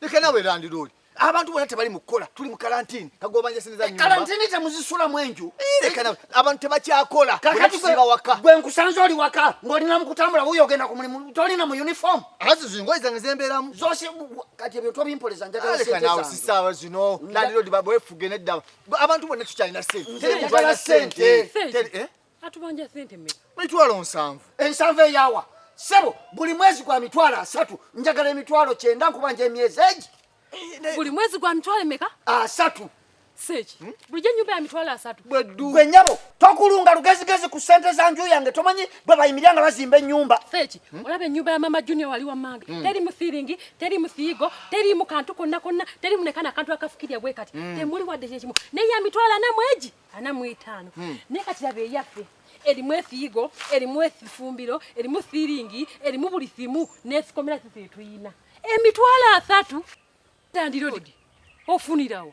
leka nawe landiroodi abantu bona tebali mukukola tuli mu kalantini kagobanjasiniza eh, kalantini temuzisulamu enju eh, leka nawe abantu tebakyakola kakatiba waka gwe nkusanze oli waka ng'olina mu kutambula wuyo ogenda ku mulimu tolina mu uniform azi zingoyi zange zembeeramu zose kati ebyo tobimpoleza njagala ah, leka nawe sisaawa zino landiroodi babefuge nedda abantu bona tukyalina sente teri mutwalina sente eh? atubanja sente mmeka mitwalo nsanvu ensanvu eyawa sebo buli mwezi gwa mitwalo asatu njagala emitwalo kyenda nkubanja emyezi egi eh, buli mwezi gwa mitwalo emeka asatu seeki hmm? bulijjo ennyumba ya mitwalo asatu gwe nyabo tokulunga lugezigezi ku sente za nju yange tomanyi bwe bayimirira nga bazimba ennyumba seeki hmm? olaba ennyumba ya mama junior wali wammanga hmm. teri mu thiringi teri mu thiigo teri mu kantu konna konna teri mu nekana kantu akafukirya bwe kati temuli wadde kyekimu naye ya mitwalo ana mwegi ana mu etaano hmm. naye kati laba eyaffe erimu efiigo erimu efumbiro erimu siiringi erimu buli simu n'esikomera sisi etuyina emitwalo asatu tandirodi ofunirawo